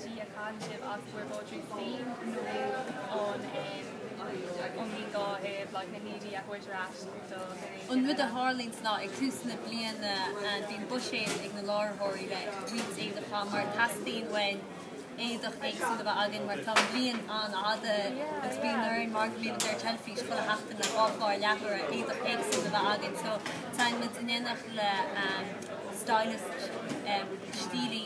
Sea, a chan sibh as Muir Bhodhraí féin nó ón Aontaíonn dá thaobh, like, na hídí a thabhairt ar ais Dar ndóigh An rud a tharlaíonn sa lá, ag tús na bliana and bíonn buiséad ag na láithreoirí le roinnt éadaí a cheannach mar teastaíonn uainn éadach éagsúil a bheith againn mar tá an bhliain an-fhada agus bíonn orainn mar go mbíonn muid ar teilifís chuile sheachtain le dhá chlár leathuaire éadach éagsúil a bheith againn so téann muid in éineacht le stylist stílí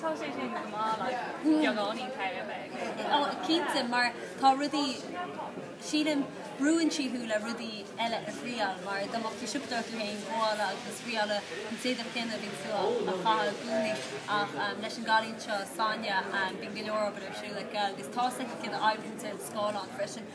Tá sé sin go maith like beagáinín cabhair a bheith agat you know. Oh cinnte mar tá rudaí sílim brúann sí thú le rudaí eile a thriáil mar dá mbeadh tú ag siopadóireacht tú féin ag gabháil agus ag triail an t-éadach céanna a bhí tú a chaitheamh i gcónaí ach leis an gcailín seo Sonia bíonn go leor obair ar siúl aici agus tá a fhios aici céard a oibríonn ar an scáileán freisin.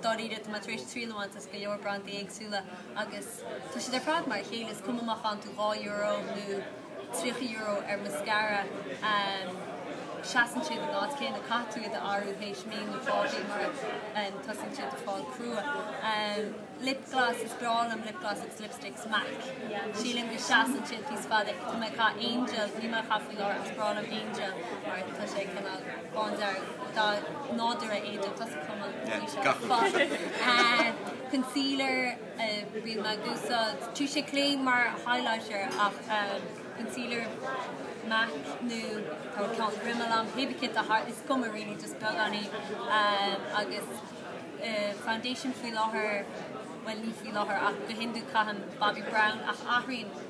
Dáiríre, tá mé tar éis triail a bhaint as go leor brandaí éagsúla agus tá siad ar fad mar a chéile, is cuma má chaitheann tú €2 nó €30 ar mascara, seasann siad an fad céanna, caithfidh tú iad a athrú théis mí nó dhá mhí mar tosaíonn siad ag fáil crua. Lip gloss, is breá liom lip gloss agus lipsticks MAC, sílim go seasann siad níos faide, tá mé ag caitheamh Angel, níl mé á chaitheamh faoi láthair ach is breá liom Angel mar tá sé cineál. Bándearg nádúrtha éideadh tosaigh tamall ó shin seo. Fáth. Concealer a rinne mé d'úsáid. Touche Éclat mar highlighter ach concealer MAC nó tá ceann Rimmel ann. Cé bith céard is cuma really just beagáinín agus foundation faoi láthair bhuel ní faoi láthair ach go hiondúil caithim Bobbi Brown ach athraíonn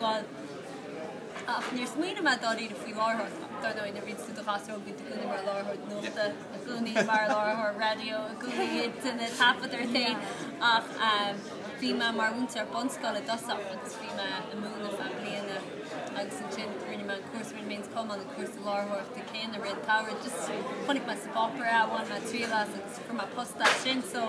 Bhuel, ach níor smaoinigh mé dáiríre faoi láithreoir. Dar ndóigh, nuair a bhíonn tú i do ghasúr óg, bíonn tú i gcónaí mar láithreoir nuachta, i gcónaí mar láithreoir raidió, i gcónaí ag taifeadadh ar rté. Ach bhí mé mar mhúinteoir bunscoile i dtosach agus bhí mé ag múineadh ar feadh bliana agus ansin rinne mé an cúrsa, rinne mé an Cumann, an cúrsa láithreoireachta céanna, i rith an tsamhraidh, just chonaic mé sa bpáipéar é, bhain mé triail as agus fuair mé post as sin. So